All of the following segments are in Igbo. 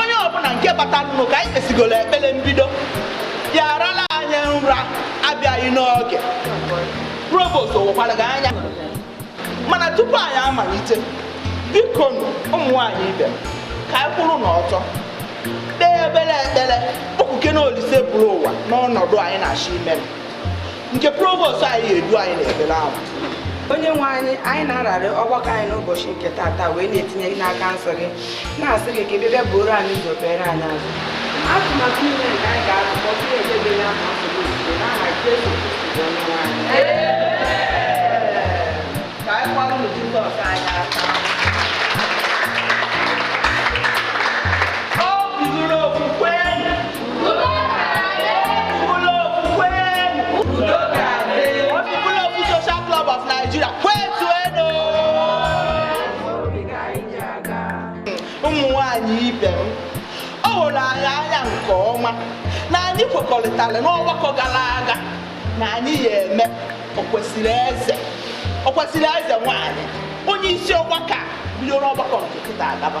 onye ọbụla nke batara nụ ka anyị kpesigoro ekpere mbido ya-arala anyị nra abịaghị n'oge provost owekwara gị anya mana tupu anyị amalite bikonụ ụmụ nwaanyị ibe m ka anyị kwụrụ n'ọtọ kpee obere ekpere kpọkukene Olise buru ụwa n'ọnọdụ anyị na-achọ ime nke provost anyị ga-edu anyị n'ekpere ahụ onye nwe anyị anyị na-ararị ọgbakọ anyị n'ụbọchị nke tata wee na-etinye gị n'aka nsọ gị na-asị gị ka ị bịa buru anyị ụzọ kpere anyị azụ atụmatụ niile nke anyị ga-atụ ma ọ bụrụ ebe dị ya ma ọ bụ n'ozuzo n'aha Jesu Kristi bụ onye nwe anyị ka anyị kụaranụ Jizọs anyị aka kwekọrịtara n'ọgbakọ gara aga na anyị ya-eme okwesịrị eze okwesịrị eze nwanyị onye isi ọgbakọ bidoro ọgbakọ nke tata agaba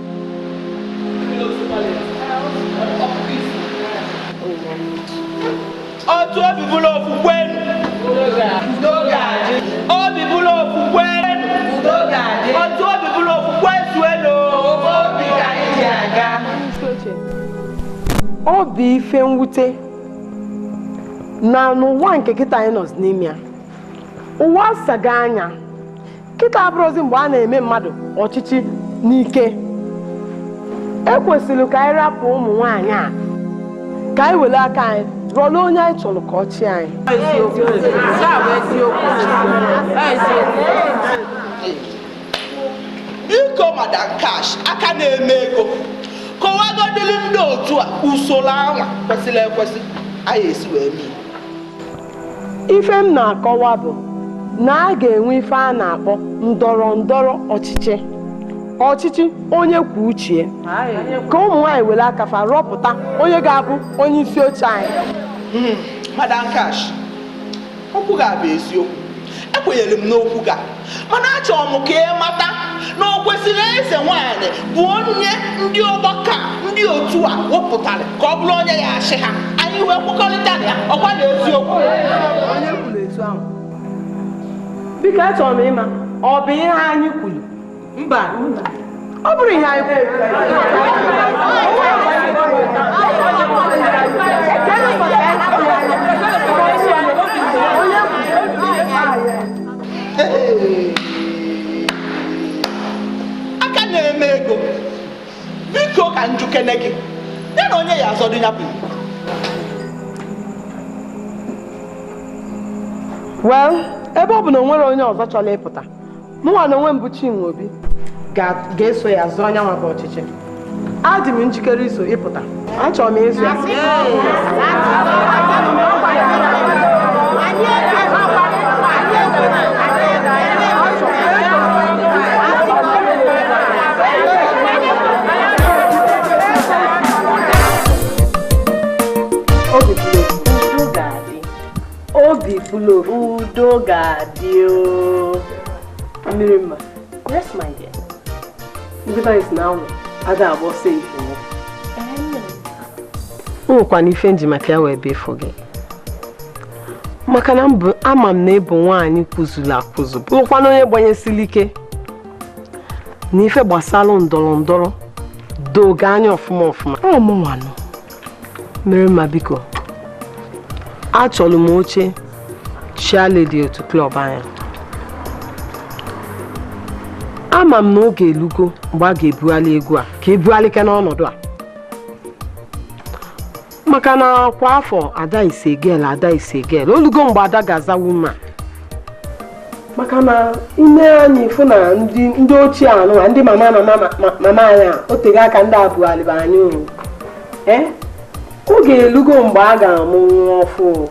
otu obi bụrụ okwukwe obi bụrụ okwukwe otu obi bụrụ okwukwe zuelu ọ bụ ife mwute na n'ụwa nke kịta anyị nọ n'ime ya ụwa asaga anya kịta abụrọzi mgbe a na-eme mmadụ ọchịchị n'ike e kwesịrị ka anyị rapụ ụmụ nwaanyị ka anyị were aka anyị rọlụ onye anyị chọrọ ka ọ chịa anyị biko Madam Cash aka na-eme ego kọwagodịrị ndị otu a usoro anwa kwesịrị ekwesị anyị esi wee mee Ife m na-akọwa bụ na a ga-enwe ife a na-akpọ ndọrọ ndọrọ ọchịchị ọchịchị onye kwuo uche ya ka ụmụ nwaanyị were aka fa rọpụta onye ga-abụ onye isi oche anyị Madam Cash, okwu gị a bụ eziokwu. Ekwenyere m n'okwu gị a. mana achọrọ m ka ị mata na okwesịrị eze nwaanyị bụ onye ndị ọgbakọ ndị otu a wepụtara ka ọ bụrụ onye ya-achị ha anyị wee kwekọrịta na ya ọ kwa na eziokwu onye kwuru etu ahụ biko achọrọ m ịma ọ bụ ihe anyị kwuru mba ọ bụrụ ihe anyị aka na-eme ego biko ka m jụkene gị ya na onye ya azọ dị ya bụ well ebe ọ bụ na o nwere onye ọzọ chọrọ ịpụta mụnwa na onwe m bụ Chinwe Obi ga-eso ya zọọ nya nwa bụ ọchịchị adị m njikere iso ịpụta achọrọ m ịzọ ya obi fụlụ udo ga-adị mmiri mma yes my dear ndị banyị sị na awọ ada agba ọsọ efifie o nwekwanụ ife m ji maka ya wee bịa ịfụ gị maka na ama m na ị bụ nwaanyị kwụzuru akwụzụ bụrụkwana onye banyesiri ike na ife gbasara ndọrọ ndọrọ do gị anya ọfụma ọfụma mmiri mma biko achọrọ m oche chairlady otu club anyị a ama m na oge elugo mgbe a ga-ebugharị egwu a ka e bugharịkene ọnọdụ a maka na kwa afọ Ada is a girl Ada is a girl o lugo mgbe Ada ga-aza woman maka na i mee anya ị fụ na ndị ochie anụa ndị mama mama anyị a o tego aka ndị a bughaliba anyị o e, oge elugo mgbe a ga-amụ nwa ọfụụ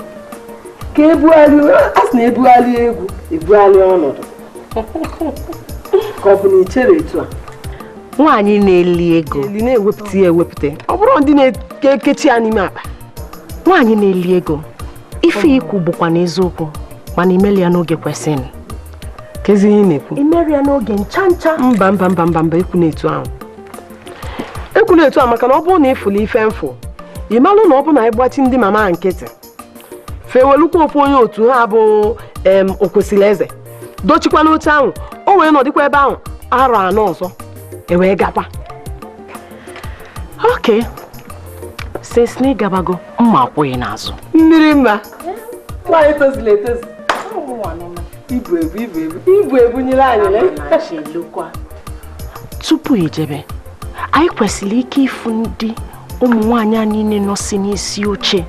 ka ebugharị a sị na e bugharịa egwu e bugharịa ọnọdụ ka ọ bụ na i chere etu a nwaanyị na-eli ego eli na-ewepụta ya ewepụta ọ bụrọ ndị na-ekechi ya n'ime akpa nwaanyị na-eli ego ife i kwu bụkwanụ eziokwu mana i meli ya n'oge kwesịrị kezi ihe ị na-ekwu i meri ya n'oge ncha ncha mba mba mba mba mba ekwuna etu ahụ ekwuna etu ahụ maka na ọ bụrụ na ị fụla ife m fụ ị malụ na ọ bụ na ị gbachi ndị mama nkịtị fa ewelukwa ofu onye otu ha bụ em okwesịrị eze dochikwa n'oche ahụ o wee nọdịkwa ebe ahụ arọ anọ ọzọ e wee gakwa okay since na ị gabago mma akwụ gị n'azụ mmiri mma nwaanyị tozulu etozu ibu ebu ibu ebu ibu e bunyere anyị tupu i jebe anyị kwesịrị ike ịfụ ndị ụmụ nwaanyị a niile nọsi n'isi oche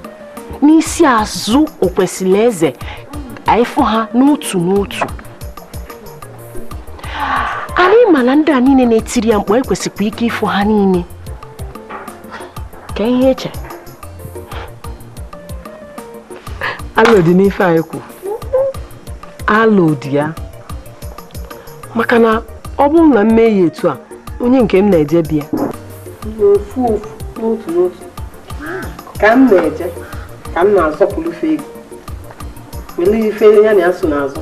n'isi azụ okwesịrị eze anyị fụ ha n'otu n'otu anyị ma na ndị a niile na-etiri ya mkpu ekwesịkwa ike ịfụ ha niile ka ihe eche alụ dị n'ife anyị kwu alụ dị ya maka na ọ bụrụ na m mee ya etu a onye nke m na-eje bịa n'ofu ofu n'otu n'otu ka m na-eje ka m na-azọpụrụ ife ego were ife ya na ya so n'azụ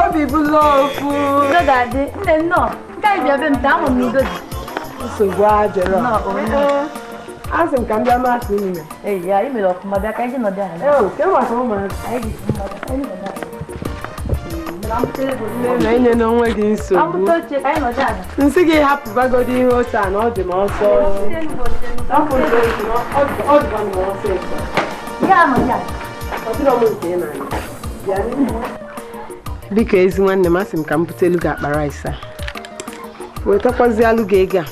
obi bụlụ ofu udo ga-adị nne nnọọ nke ị bịa be m taa amụ m udo dị nsogbu adịrọ asị m ka m bịa masị unu na ee ya ị mere ọfụma bịa ka anyị nọdụ ala ee ke maka ụmụazị anyị na-enye onwe gị nsogbu m sị gị hapụbagodi ihe otu a na ọ dị m ọsọ biko ezi nwanne m asị m ka m butelu gị akpa rice a wetakwazịalụ gị ego a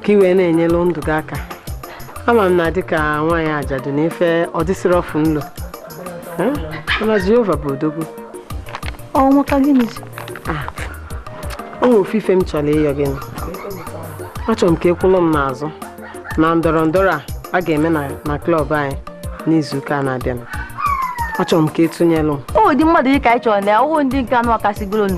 ka ị wee na-enyelụ ndụ gị aka ama m na dịka nwaanyị ajadu na ife ọ dịsịrọ ọfụ nlo mana Jehova bụ odogwu ọ bụ maka gịnị ah, o nwere ofu ife m chọrọ ịyọ gị achọrọ m ka ị kwụlụ m n'azụ na ndọrọ ndọrọ a a ga-eme na klọb anyị n'izuụka na-abịanụ achọrọ m ka ị tụnyelụ m ụdị mmadụ dị ka anyị chọrọ na ọ bụghị ndị nke a nọkasịgolonu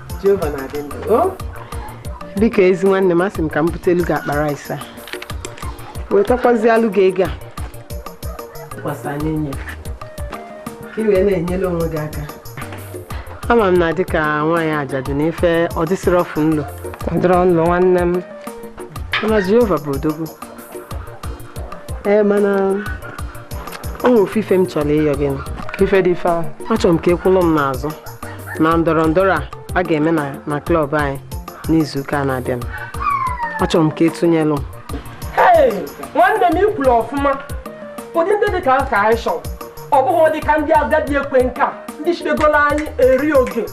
Jehova na-adị ndụ biko ezi nwanne m asị m ka m butelu gị akpa rice a wetakwazịalụ gị ego a kwasa n'enu ya ka ị wee na-enyere onwe gị aka ama m na dịka nwaanyị ajadu na ife ọ dịsịrọ ọfụ nlo ọ dịrọ nlo nwanne m mana Jehova bụ odogwu ee mana o nwere ofu ife m chọrọ ịyọ gị ife dị ife ahụ achọrọ m ka ị kwụlụ m n'azụ na ndọrọ ndọrọ a a ga-eme na na klọb anyị n'izu ụka na-abịa achọrọ m ka ị tụnyelụ m nwanne m i kwuru ọfụma ụdị ndị dị ka ka anyị chọrọ ọ bụghị ụdị ka ndị agadi ekwe nka ndị chịbegoro anyị eri oge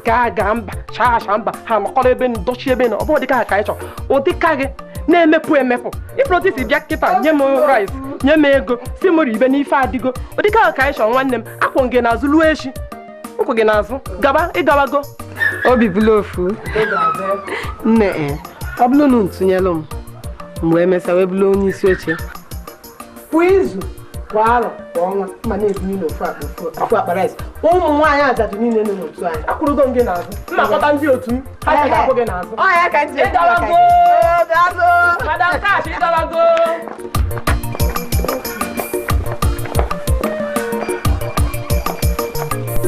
gaa gaa mba chaa acha mba ha nọkọrọ ebe na dọchi ebe na ọ bụ ụdịka ha ka anyị chọrọ ụdịka gị na-emepụ emepụ ị fụrụ otu i si bịa kịta nye m rice nye m ego sị m ribe na ife adịgo ụdịka ha ka anyị chọrọ nwanne m kwụ gị n'azụ luo echi m kwụ gị n'azụ gaba ị gawago obi bụlụ ofu nne eh, ọ bụrụ na ị tụnyelụ m m wee mesa wee bụrụ onye isi oche kwa izu kwa arọ kwa ọnwa m ma na-ebunye unu ofu akpa ofu akpa rice ụmụ nwaanyị ajadu niile nọ n'otu anyị akwụrụgo m gị n'azụ m na-akpọta ndị otu m ha ga-akwụ gị n'azụ madam cash ị dọbago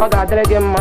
ọ ga-adịrị gị mma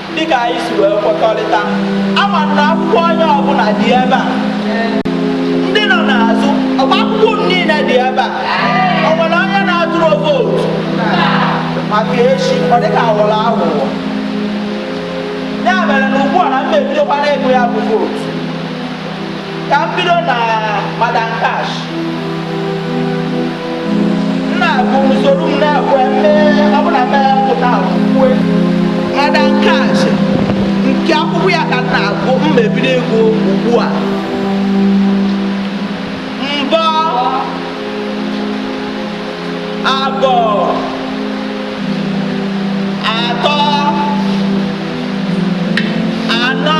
dịka anyị si wee kwekọrịta ama m na akwụkwọ onye ọbụla dị ebe a ndị nọ n'azụ ọkwa akwụkwọ unu niile dị ebe a o nwere onye na-atụrọ vootu maka echi ọ dịka a wọrọ aghụghọ ya mere na ugbu a na m ebidokwa n'ịgụ ya bụ vootu ka m bido na madam cash na-agụ n'usoro m na-ekwe mee ọ bụla mee pụta kwue madam cash nke akwụkwọ ya ka m na-agụ m ma ebido ịgụ ugbu a mbụ abọ atọ anọ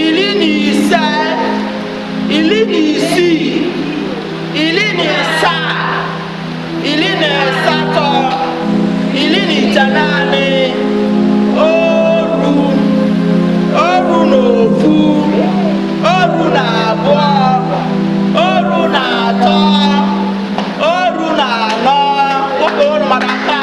iri na ise iri na isii iri na asaa iri na asatọ iri na itenaanị oru oru na ofu oru na abụọ oru na atọ oru na anọ ụka ụrụ maka nke a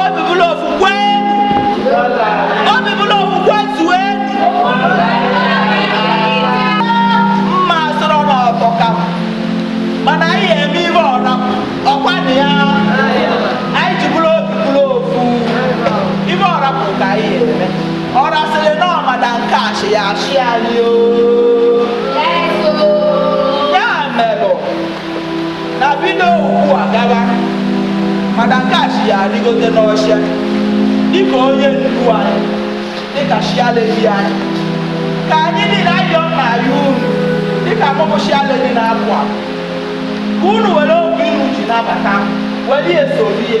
obi bụrụ ofu kweenu obi bụrụ ofu kwezuenu mma sọrọ n'ọbọ ka m mana anyị eme ife ọra ọkwa na ya anyị ji bụrụ obi bụrụ ofu ife ọra bụ ka anyị eme ọra sịrị na ọ madam nkechi ya achị anyị o na bido ugbu a gawa madam nkechi arịgote n'oche dịka onye ndu anyị dịka chairlady anyị ka anyị niile ayọ na ayọ unu dịka mụ bụ chairlady na-apụ apụ ka unu were obi unu ji nabata m were ya esoro ya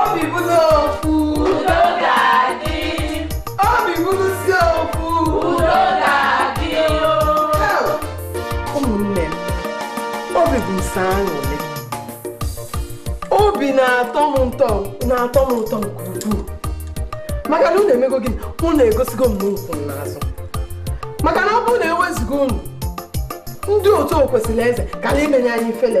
obi bụrụ ofu udo ga-adị obi bụrụsi ofu udo ga-adị ụmụnne m obi bụ m sọ aṅụrị obi na-atọ m ụtọ na-atọ m ụtọ nke ukwuu maka na unu emego gịnị unu egosigo m na unu kwụ m n'azụ maka na ọ bụrụ na e wezuga unu ndị otu o kwesịrị eze kara imenye anyị ifele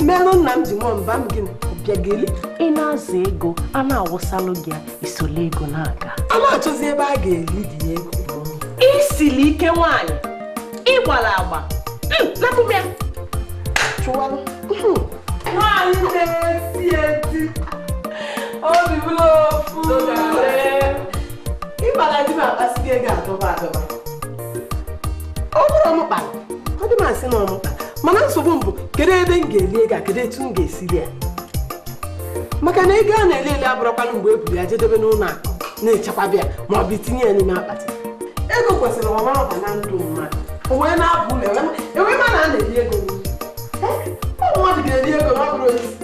mmerụ nna m ji mụọ mba m gịnị bịa ga-eli ị na-azọ ego a na-awụsalụ gị ya i solu ego na-aga a na-achọzi ebe a ga-eli gị ego i sili ike nwaanyị ị gbara agba Hmm, napụ m ya chụwalụ nwaanyị na-esi eti Obibụlụofu ịgbara di m akpasị gị ego adọba adọba ọ bụrụ m kpara ọ dị m asị na ọmụta mana nsogbu m bụ kedu ebe m ga-eli ego a kedu etu m ga-esi lie ya maka na ego a na-eli eli abụrọkwanụ mgbe e buru ya jee debe n'ụlọ akụ na-echekwaba ya ma ọ bụ itinye ya n'ime akpati ego kwesịrị ọma ọba na ndụ mmadụ o wee na-abụ ụlọ enwe ma na a na-eli ego n'ụlọ. Eh, ọ mmadụ ga-eli ego na ọ bụrọ osisi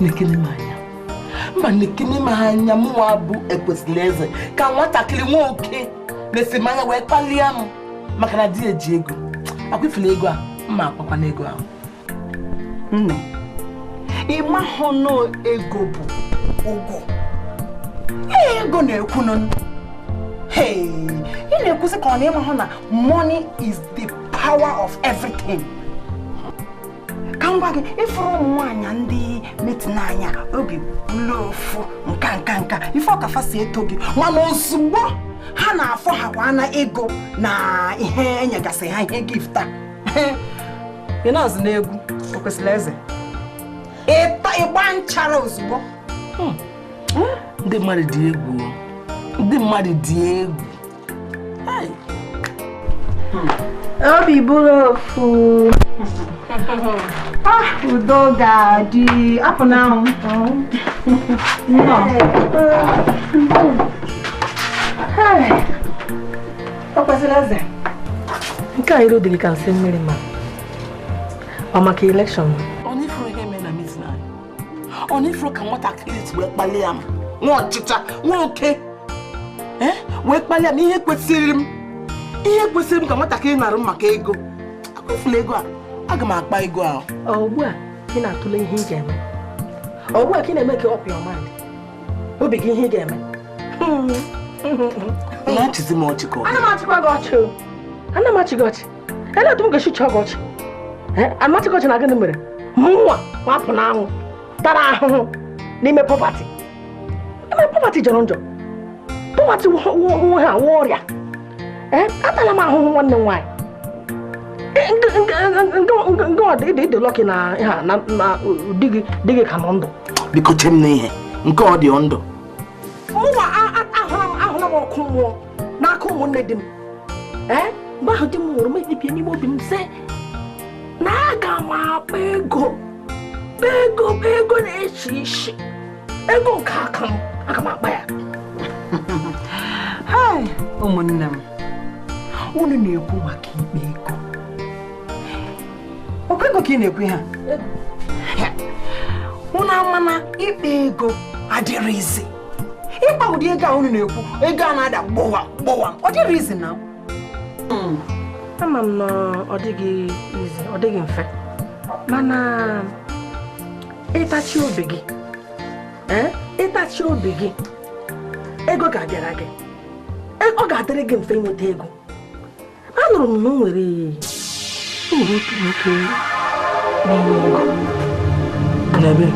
nekene m anya mba nekene m anya mụnwa bụ Okwesilieze ka nwatakịrị nwoke nesịa m anya wee kpalịa m maka na di eji ego ọ kwa ị fụlụ ego a m ma-akpakwanụ ego ahụ nne ị mahụ na ego bụ ugwu ego na-ekwunụ ị na-ekwuzi ka ọ na ị mahụ na money is the power of everything ka m gwa gị ị fụrụ ụmụ nwaanyị ndị metina anya Obibụlụofu nka nka nka ife ka fa si eto gị mana ozugbo ha na-afọ ha kwa na ego na ihe i nyegasị ha ihe gift a ị na-azụ n'egwu Okwesilieze ị gbaa nchara ozugbo hmm. Hmm? ndị mmadụ dị egwu ndị mmadụ dị egwu Obibụrụofu ah, Udogaadị Apụnanwụ Okwesilieze nke a iru dị gị ka nsị mmiri maa ọ maka election ọ na ị fụrọ ka nwatakịrị si wee kpalịa m nwa ọchịcha nwoke eh, wee kpalịa m ihe kwesịrị m ihe kwesịrị m ka nwatakịrị narụ m maka ego ọ kwa ị fụlụ ego a aga m akpa ego ahụ ugbu a ị na-atụle ihe ị ga-eme ugbu a ka ị na-eme ka ọ pịa ọmadị obi gị ihe ị ga-eme na-achịzi m ọchị ka ọ ana m achịkwa gị ọchị ana m achị gị ọchị ele otu m ga-esi chịa gị ọchị m achị gị ọchị na gịnị mere mụnwa bụ Apụnanwụ tara ahụhụ n'ime poverty ime poverty jọrọ njọ poverty nwe ha nwe ọrịa atala m ahụhụ nwanne m nwaanyị ị dị lucky na ha na di gị ka nọ ndụ biko che m n'ihe nke ọ dị ndụ mụnwa ahụla m ọkụ mmụọ n'aka ụmụnne di m mgbe ahụ di m nwụrụ m ekpebie n'ime obi m sị na aga m akpa ego kpaa ego kpaa ego na-echi isi ego nke aka m aga m akpa ya ụmụnne m unu na-ekwu maka ịkpa ego ọkwa ego ka ị na-ekwu ha unu ama na ịkpa ego adịghị easy ịkpa ụdị ego a unu na-ekwu ego a na-ada gbọwa gbọwa ọ dịghị easy na hmm. ama m na ọ dịghị easy ọ dịghị mfe mana ịtachi obi gị eh, ịtachi obi gị ego ga-abịara gị e, ọ ga-adịrị gị mfe ịnweta ego anụrụ m na o nwere otu nwoke na-enye ego n'ebe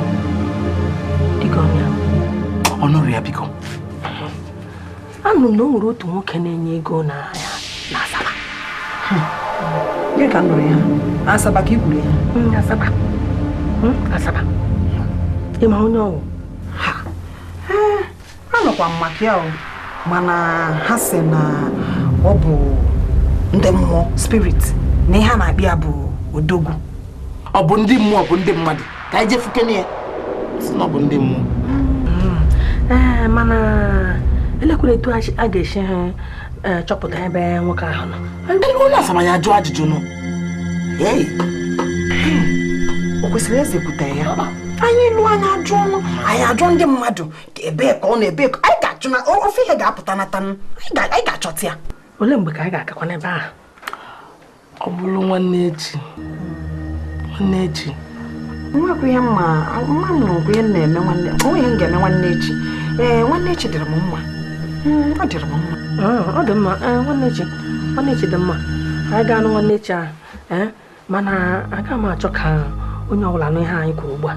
dịka onye nụrụ ya biko anụrụ m na o nwere otu nwoke na-enye ego na ya na asaba gị ka nụrụ ya asaba ka i kwuru ya Mm, asaba Mm, asaba ị ma onye ọ wụ anụkwa m maka ya o mana ha sị na ọ bụ ndị mmụọ spirit na ihe a na-akpọ ya bụ odogwu ọ bụ ndị mmụọ bụ ndị mmadụ ka anyị jee fụkene ya sị na ọ bụ ndị mmụọ ee mana elekwere etu a ga-esi achọpụta ebe nwoke ahụ nọ n'asaba anyị ajụọ ajụjụ nụ o kwesịrị eze pụta ya anyị luo anyị ajụọ nụ anyị ajụọ ndị mmadụ ebee ka ọ nọ ebee ka anyị ga-achụ na ofu ihe ga-apụta nata anyị ga-achọta ya olee mgbe ka anyị ga-agakwa n'ebe ahụ ọ bụrụ nwanne echi nwanne echi nwekwa ihe mma mma m na ihe m na-eme nwanne o nwe ihe m ga-eme nwanne echi ee nwanne echi dịrị m mma hmm, ọ dịrị m mma ah, ọ dị mma eh, nwanne echi nwanne echi dị mma anyị gaanụ nwanne echi ahụ eh, mana aga m achọ ka onye ọbụla nụ ihe anyị kwuru ugbu a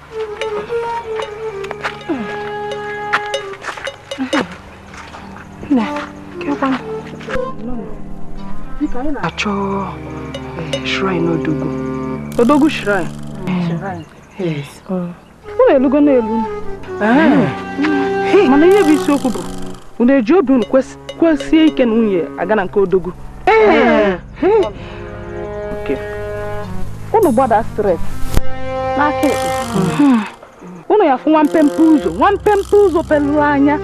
achọ eh, shrine odogwu odogwu shrine eh, oh. unu elugo n'elu eh. mana ihe bụ isiokwu bụ unu eji obi unu kasie ike na unu ya-aga na nke odogwu unu gbada straight n'aka ekpe unu ya-afụ nwa mpempe ụzọ nwa mpempe ụzọ pelụ anya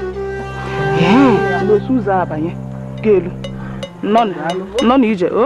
eso ụzọ a banye ga-elu nọ na ije o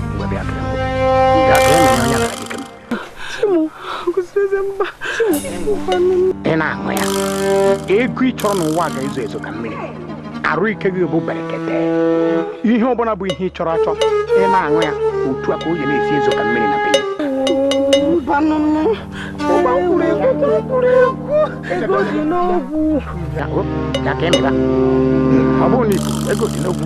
ị na-aṅụ ya ego ị chọrọ n'ụwa ga-ezo ezo ka mmiri arụ ike gị bụ berekete ihe ọbụla bụ ihe ị chọrọ achọ ị na-aṅụ ya otu a ka o ji na-esi ezo ka mmiri na be ya ọ bụrụ na ibu ego dị n'ọgwụ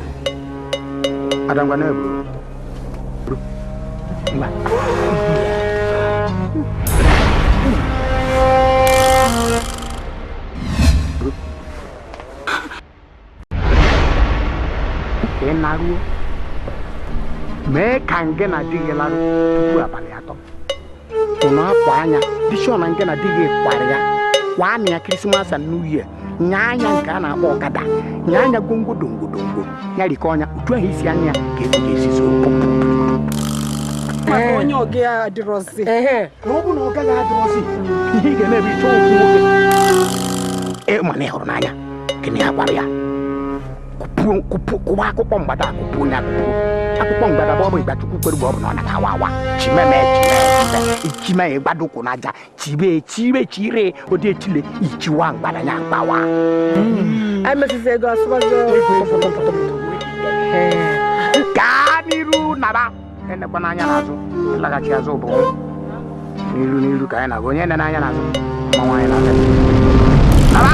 Adangwa na ebu. Mba. Ka ị naruo mee ka ngị na di gị larụ tupu abalị atọ unu akwa anya dishon na ngị na di gị kwara ya kwaa nya krismas and new year nye nya nke a na-akpọ ọkada nye nya gwongwo dongwodongwo ya rikọọ nya utu ahụ isi anya ya ka ego ga-esi zoo maka onye ọga ya adịrọzi na ọ bụ na ọga gị adịrọzi ihe ị ga-eme bụ ịchọ ofu nwoke ị ma na ị hụrụ n'anya gị na ya kwara ya kụpuo kụpuo kụwa akụkọ mgbada akụpuo onye akụpuo akụkọ mgbada bụ ọ bụ ịgbachukwu kpere bụ ọ bụ na ọ na-awa awa chimeme chimeme chime ya gbado ụkwụ n'aja chibe chire chire ụdị echile ichiwa mgbada ya agbawa emesịsị ego asụbazi gaa n'iru naba enekwana anya n'azụ ịlaghachi azụ bụ n'iru n'iru ka anyị na-aga onye enena anya n'azụ mmanwụ anyị na-aga naba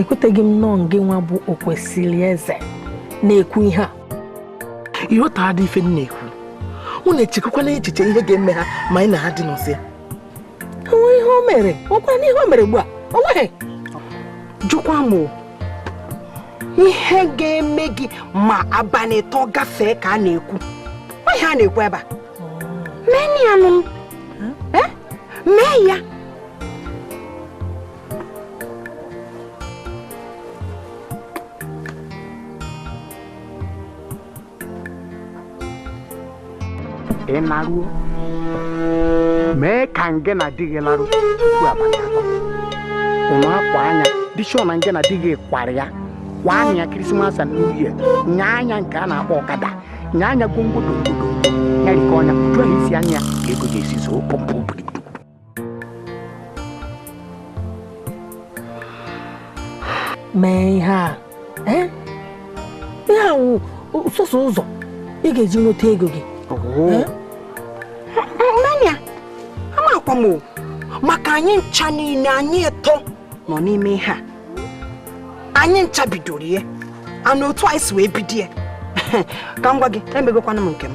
ekweteghị m nọọ ngị nwa bụ okwesịrị eze na-ekwu ihe a ị ghọtadị ife m na-ekwu unu echekwana echiche ihe ga-eme ha ma anyị na ha dị n'ụsọ ya o nwe ihe o mere ọ kwa na ihe o mere ugbu a o nweghị jụkwa m ihe ga-eme gị ma abalị atọ gafee ka a na-ekwu ihe a na-ekwu ebe a mee ya nụ eh? mee ya ị naruo mee ka ngị na di gị larụ tupu abalị atọ ụnụ akwa anya dishọ na ngị na di gị kwara ya kwaa nya krismas and new year nye nya nke a na-akpọ ọkada nye nya gwongwodo ya rikọọ nya jụọ isi anya ka ego ga-esi zoo pọmpụ mee ihe a eh? ihe a wụ sọsọ ụzọ ị ga-eji nweta ego gị eh? nna anyị amakwa m maka anyị ncha niile anyị atọ nọ n'ime ihe a anyị ncha bidoro ya and otu anyị si wee bido ya ka m gwa gị emegokwana m nke m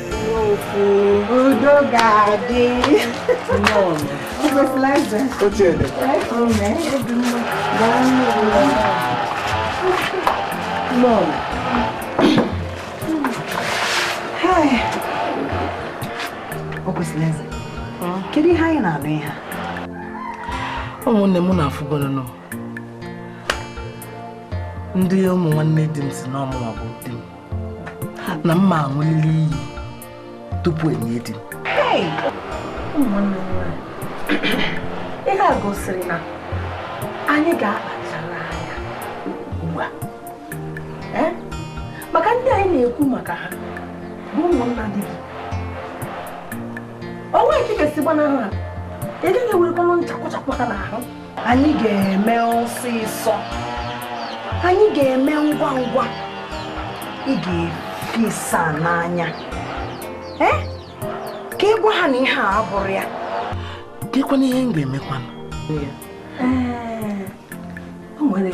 udo ga-adị kedu ihe anyị na-anụ ihe ụmụnne m unu afụgonụ na ndị ụmụ nwanne di m sị na ọ mụwa gburu di m na m ma aṅụlili iyi tupu e nie di m ihe a gosiri na anyị ga-akpachara anya ugbu a eh? maka ndị anyị na-ekwu maka ha bụ ụmụnna di gị o nwee ka ị ga-esi gbanahụ ha ị gaghị ewerekwanụ ncha kwọchakwa aka n'ahụ anyị ga-eme ọsịsọ anyị ga-eme ngwa ngwa ị ga-efi ịsa n'anya eh? ka ị gwa ha na ihe a abụrọ ya dịkwana ihe m ga-emekwanụ eh, o nwere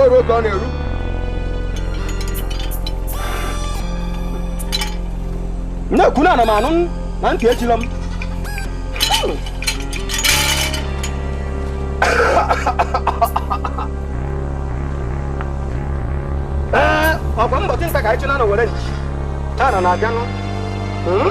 O ruo oge ọ na-eru. Na-ekwu na ana m anụ na ntị echilọ m. Ee, ọkwa mbọchị nta ka anyị chụọ n'owere. Taa na na-abịanụ. Hmm?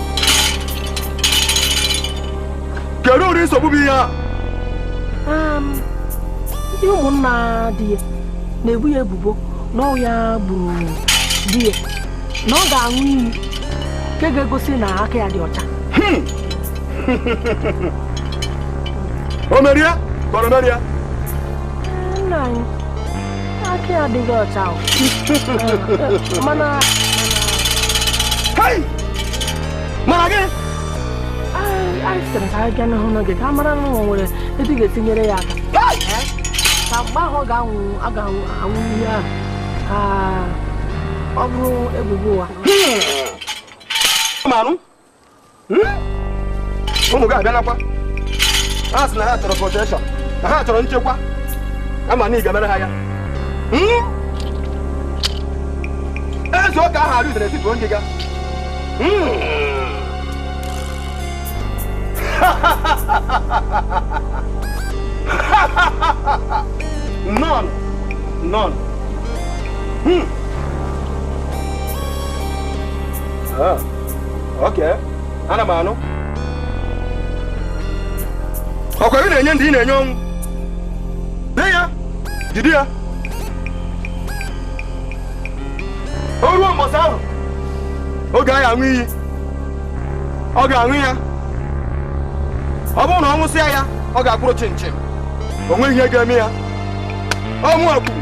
kedu ụdị nsogbu bụ ihe a um, ndị ụmụnna di ya na-ebo ya ebubo na ọ bụ ya gburu di ya na ọ ga-aṅụ iyi nke ga-egosi na aka ya dị ọcha hmm. o merie kọrọ merie nna anyị aka ya adịghị ọcha ahụ. mana Hai! Mana gị! anyị anyị sịrị ka anyị gaa hụnụ gị ka a mara na o nwere etu ị ga-etinyere ya aka Hai! Eh? ka mgbe ahụ ọ ga-aṅụ ọ ga-aṅụ aṅụ iyi ahụ ka ọ bụrụ ebubo ụwa Mmanụ! hmm? ụmụ gị abịanakwa ha sị na ha chọrọ protection na ha chọrọ nchekwa ama m na ị ga-emere ha ya hmm? eze ụka ahụ arị udere tituo ndị ga nọn nọn Hmm. Ah. ana m anụ ọkwa ihe ị na-enye ndị ị na-enye ọnwụ nye ya jide ya o ruo mbọsị ahụ oge a ya-aṅụ iyi ọ ga-aṅụ ya ọ bụrụ na ọ ṅụsịa ya ọ ga-akwụrụ chịm chịm o nweghị ihe ga-eme ya ọnwụ akwuru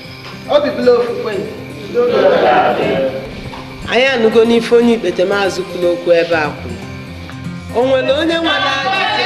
obi bụla ofufe anyị anụgo n'ife onye ikpetemazụ kwuru okwu ebe a kwuru o nwere onye nwere ajụjụ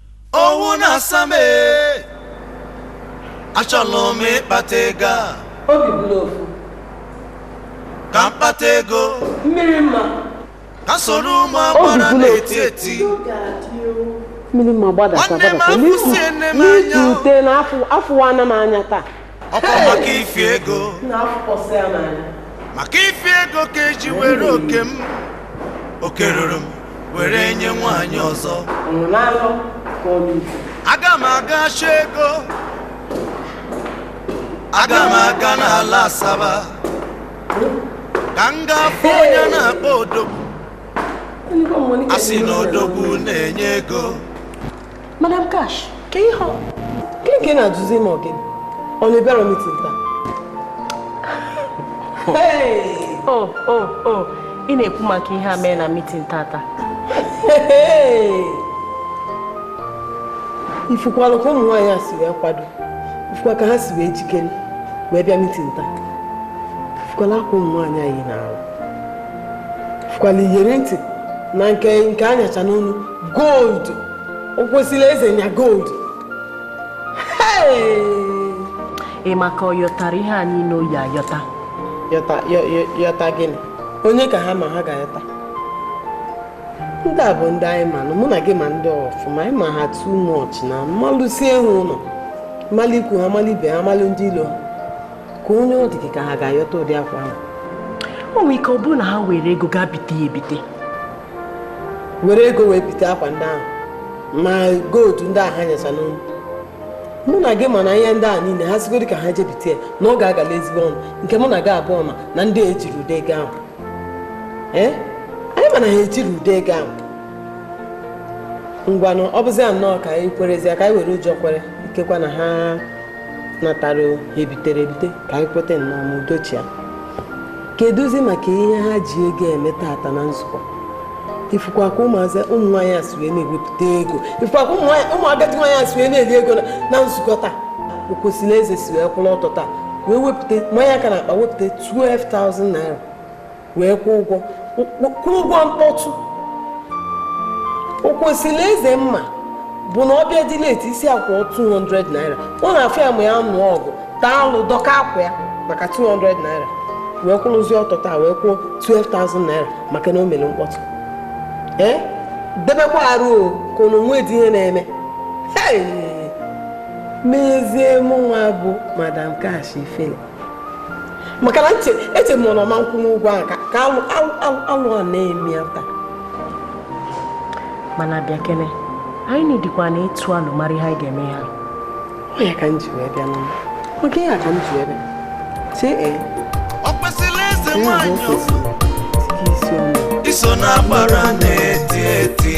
owu na-asa m ee. achọrọ m ịkpata ego a obi bụla ofu ka m kpata ego mmiri mma ka m soro ụmụ agbara Obi bụla na-eti eti mmiri mma gbadata Nwanne m gbadata afụsie nne m anya. n'itute na afụ afụwana m anya taa ọkwa maka ife ego na-afụkpọsị ya n'anya maka ife ego ka e ji were oke m oke ruru m were nye nwaanyị ọzọ ọnụ n'alọ ka ọ n'uche aga m aga achọ ego aga m aga n'ala Asaba ka m gaa fụ onye a na-akpọ Odogwu Ndị gọọmenti a sị na Odogwu na-enye ego Madam Cash, kee ihe ọ, kee nke ị na-ajụzi ma ọ gịnị? Ọ na ị bịarọ meeting taa? O, o, o, ị na-ekwu maka ihe a mee na meeting tata. Ị fụkwalụ ka ụmụ nwaanyị a si wee kwado, ị fụkwa ka ha si wee jikere wee bịa meeting taa. Ị fụkwalụ akwa ụmụ nwaanyị a yi n'arụ. Ị fụkwalụ iyeri ntị na nke nke a nyacha n'onu gold okwesilieze nya gold ị ma ka ọ yọtara ihe a niile o yi ayọta yọta yọ- yọ- yọta gịnị onye ka ha ma ha ga-ayọta ndị a bụ ndị anyị manụ mụ na gị ma ndị ọfụma anyị ma ha too much na malụsị ehu ụlọ malụ ikwu ha malụ ibe ha malụ ndị ilo ha ka onye ọ dị gị ka ha ga-ayọta ụdị akwa ahụ o nwere ike ọ bụrụ na ha were ego gaa bite ya ebite were ego wee bite akwa ndị ahụ ma gold ndị ahụ ha nyacha n'olu mụ na gị ma na ihe ndị a niile ha sịgodị ka ha je bite ya na ọ ga-agala ezigbo ọnụ nke mụ na gị abụọ ma na ndị a ejirọ ụdị ego ahụ ee anyị ma na ha ejirọ ụdị ego ahụ ngwanụ ọ bụzi ya nnọọ ka anyị kwerezie ka anyị were ụjọ kwere ikekwa na ha natara ebitere ebite ka anyị kweta nnọọ ma udo chịa kedụzi maka ihe ha ji ego eme taata na nzukọ ị fụkwa ka ụmụazị ụmụ nwaanyị a si wee na-ewepụta ego ị fụkwa ka ụmụ agadi nwaanyị a si wee na-eli ego na nzukọ taa okwesilieze si wee kwụrụ ọtọ taa wee wepụta manye aka na akpa wepụta 12,000 naira wee kwụọ ụgwọ kwụọ ụgwọ mkpọtụ okwesilieze m ma bụ na ọ bịadị leti ị sị ya kwụọ 200 naira ọ na-afọ ma ya nụọ ọgụ taa alụ dọkaa akwa ya maka 200 naira wee kwụrụzie ọtọ taa wee kwụọ 12,000 naira maka na o mere mkpọtụ ee eh? debekwa arụ o ka unu nwedị ihe na-eme mezie mụnwa bụ madam cash ifele maka na eche m na ọ ma akwụnwu ụgwọ ahụ ka alụ a na-eme ya taa mana bịakene anyị nọdịkwa na ịtụ alo mara ihe anyị ga-eme ha ọ ya ka m ji wee bịa n'ụlọ maka ihe a ka m ji wee bịa chee ee okwesilieze nwanyị ọzọ iso na-agbara na-eti eti